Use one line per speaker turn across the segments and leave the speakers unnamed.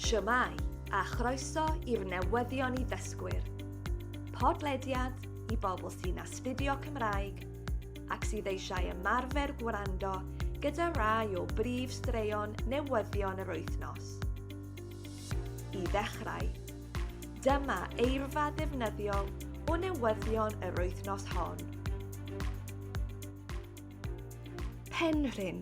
Shwmae, a chroeso i'r newyddion i ddysgwyr. Podlediad i bobl sy'n astudio Cymraeg ac sydd eisiau ymarfer gwrando gyda rai o brif straeon newyddion yr wythnos. I ddechrau, dyma eirfa ddefnyddiol o newyddion yr wythnos hon. Penrhyn,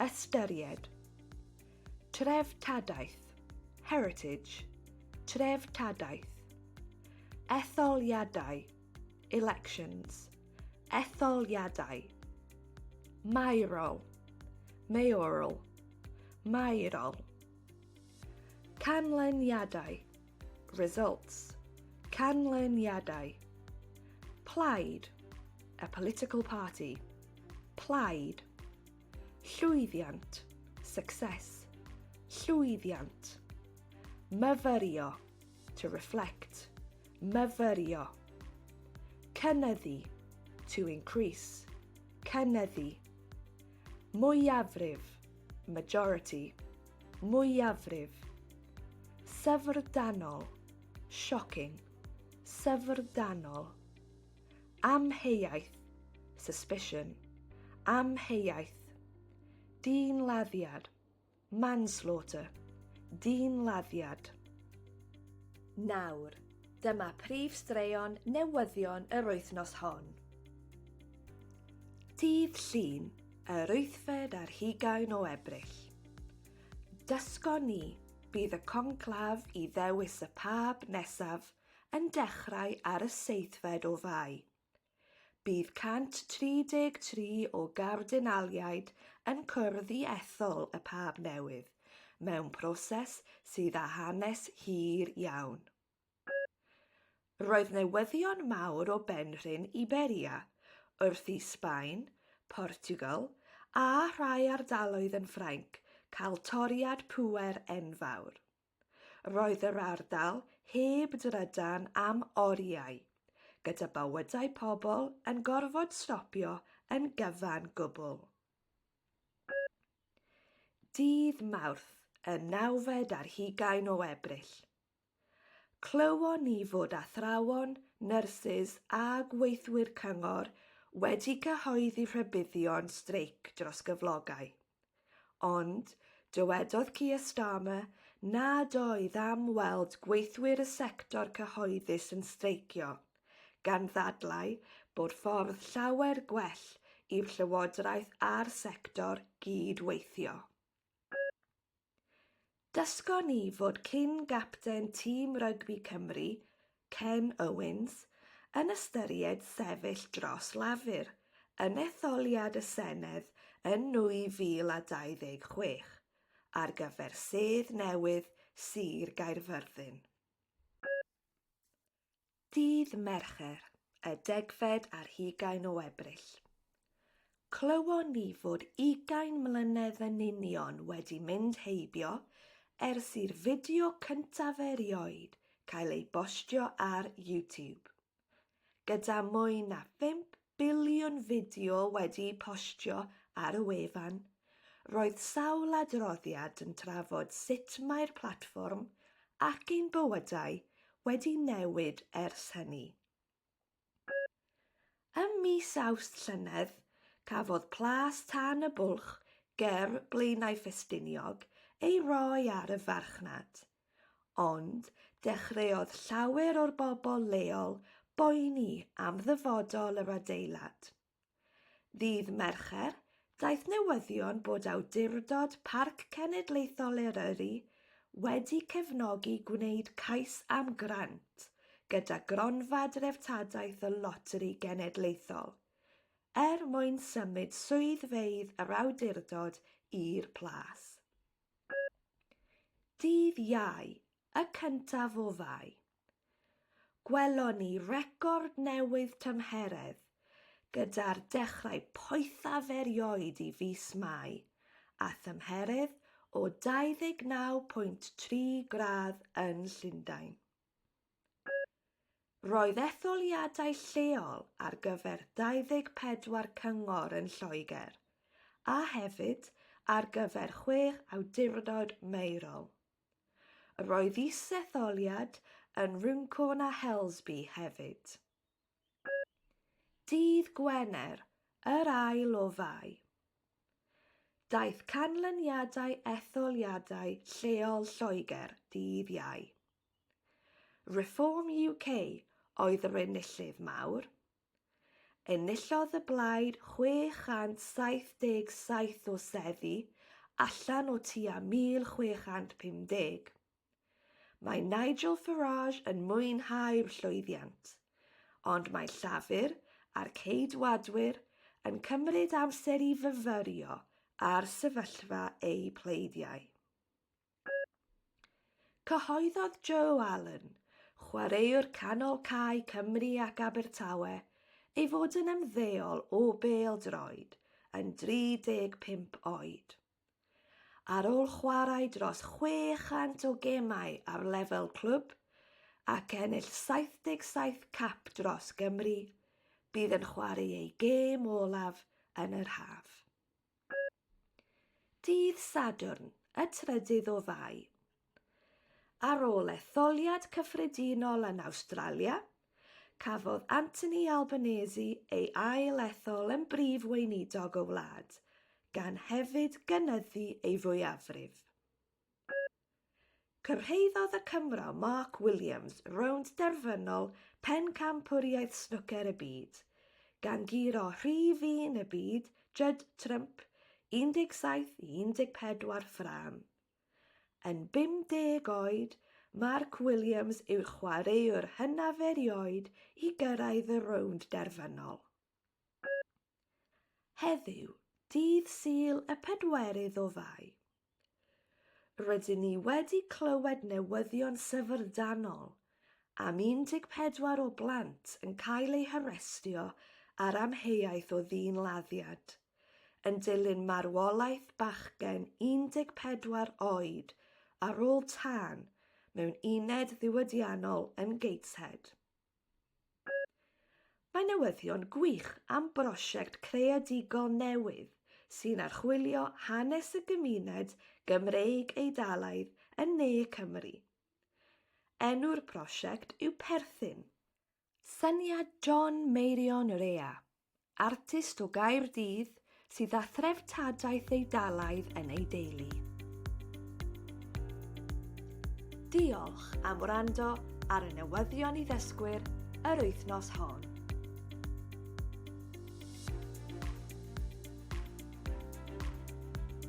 Ystyried. Treftadaeth, heritage, treftadaeth. Etholiadau, elections, etholiadau. Maerol, mayoral, maerol. Canlyniadau, Results, Canlyniadau. Plaid, a political party. Plaid. Llwyddiant, success. Llwyddiant. Myfyrio, to reflect. Myfyrio. Cynyddu, to increase. Cynyddu. Mwyafrif, majority. Mwyafrif. Syfrdanol. Shocking. Syfrdanol. Amheuaeth. Suspicion. Amheuaeth. Dynladdiad. Manslaughter. Dynladdiad. Nawr, dyma prif straeon newyddion yr wythnos hon. Dydd Llun, Yr wythfed ar hugain o Ebrill. Dysgon ni, bydd y conclaf i ddewis y pab nesaf yn dechrau ar y seithfed o Fai. Bydd 133 o gardinaliaid yn cwrdd i ethol y pab newydd mewn proses sydd â hanes hir iawn. Roedd newyddion mawr o benrhyn Iberia, wrth i Sbaen, Portiwgal, a rhai ardaloedd yn Ffrainc cael toriad pŵer enfawr. Roedd yr ardal heb drydan am oriau, gyda bywydau pobl yn gorfod stopio yn gyfan gwbl. Dydd Mawrth, y nawfed ar hugain o Ebrill. Clywon ni fod athrawon, nyrsys a gweithwyr cyngor wedi cyhoeddi rhybuddion streic dros gyflogau. Ond, dywedodd Keir Starmer nad oedd am weld gweithwyr y sector cyhoeddus yn streicio, gan ddadlau bod ffordd llawer gwell i'r llywodraeth a'r sector gyd-weithio. Dysgon ni fod cyn gapten tîm rygbi Cymru, Ken Owens, yn ystyried sefyll dros Lafur yn etholiad y Senedd yn 2026 ar gyfer sedd newydd Sir Gaerfyrddin. Ddydd Mercher, y degfed ar hugain o Ebrill, clywon ni fod ugain mlynedd yn union wedi mynd heibio ers i'r fideo cyntaf erioed cael ei bostio ar YouTube, gyda mwy na 50 biliwn fideo wedi'u postio ar y wefan, roedd sawl adroddiad yn trafod sut mae'r platfform ac ein bywydau wedi newid ers hynny. Ym mis Awst llynedd, cafodd Plas Tân y Bwlch ger Blaenau Ffestiniog ei roi ar y farchnad. Ond dechreuodd llawer o'r bobl leol boeni am ddyfodol yr adeilad. Ddydd Mercher, daeth newyddion bod Awdurdod Parc Cenedlaethol Eryri wedi cefnogi gwneud cais am grant gyda Gronfa Dreftadaeth y Loteri Genedlaethol er mwyn symud swyddfeydd yr awdurdod i'r Plas. Dydd Iau, y cyntaf o Fai, gwelon ni record newydd tymheredd gyda'r dechrau poethaf erioed i fis Mai a thymheredd o 29.3 gradd yn Llundain. Roedd etholiadau lleol ar gyfer 24 cyngor yn Lloegr, a hefyd ar gyfer chwech awdurdod maerol. Roedd is-etholiad yn Runcorn a Helsby hefyd. Dydd Gwener, yr ail o Fai. Daeth canlyniadau etholiadau lleol Lloegr dydd Iau. Reform UK oedd yr enillydd mawr. Enillodd y blaid 677 o seddi allan o tua 1,650. Mae Nigel Farage yn mwynhau'r llwyddiant, ond mae Llafur a'r Ceidwadwyr yn cymryd amser i fyfyrio ar sefyllfa eu pleidiau. Cyhoeddodd Joe Allen, chwaraewr canol cae Cymru ac Abertawe, ei fod yn ymddeol o bêl-droed yn 35 oed. Ar ôl chwarae dros 600 o gemau ar lefel clwb ac ennill 77 cap dros Gymru, bydd yn chwarae ei gêm olaf yn yr haf. Dydd Sadwrn, y trydydd o Fai, Ar ôl etholiad cyffredinol yn Awstralia, cafodd Anthony Albanese ei ail-ethol yn Brif Weinidog y wlad, gan hefyd gynyddu ei fwyafrif. Cyrhaeddodd y Cymro Mark Williams rownd derfynol Pencampwriaeth Snwcer y Byd, gan guro rhif un y byd Judd Trump, 17 i 14 ffrâm. Yn 50 oed, Mark Williams yw'r chwaraewr hynaf erioed i gyrraedd y rownd derfynol. Heddiw, dydd Sul y pedwerydd o Fai, rydyn ni wedi clywed newyddion syfrdanol am 14 o blant yn cael eu harestio ar amheuaeth o ddyn-laddiad. yn dilyn marwolaeth bachgen 14 oed ar ôl tân mewn uned ddiwydiannol yn Gateshead. Mae newyddion gwych am brosiect creadigol newydd sy'n archwilio hanes y gymuned Gymreig Eidalaidd yn ne Cymru. Enw'r prosiect yw Perthyn. Syniad John Meirion yr Ea, artist o Gaerdydd sydd â threftadaeth Eidalaidd yn ei deulu. Diolch am wrando ar y newyddion i ddysgwyr yr wythnos hon.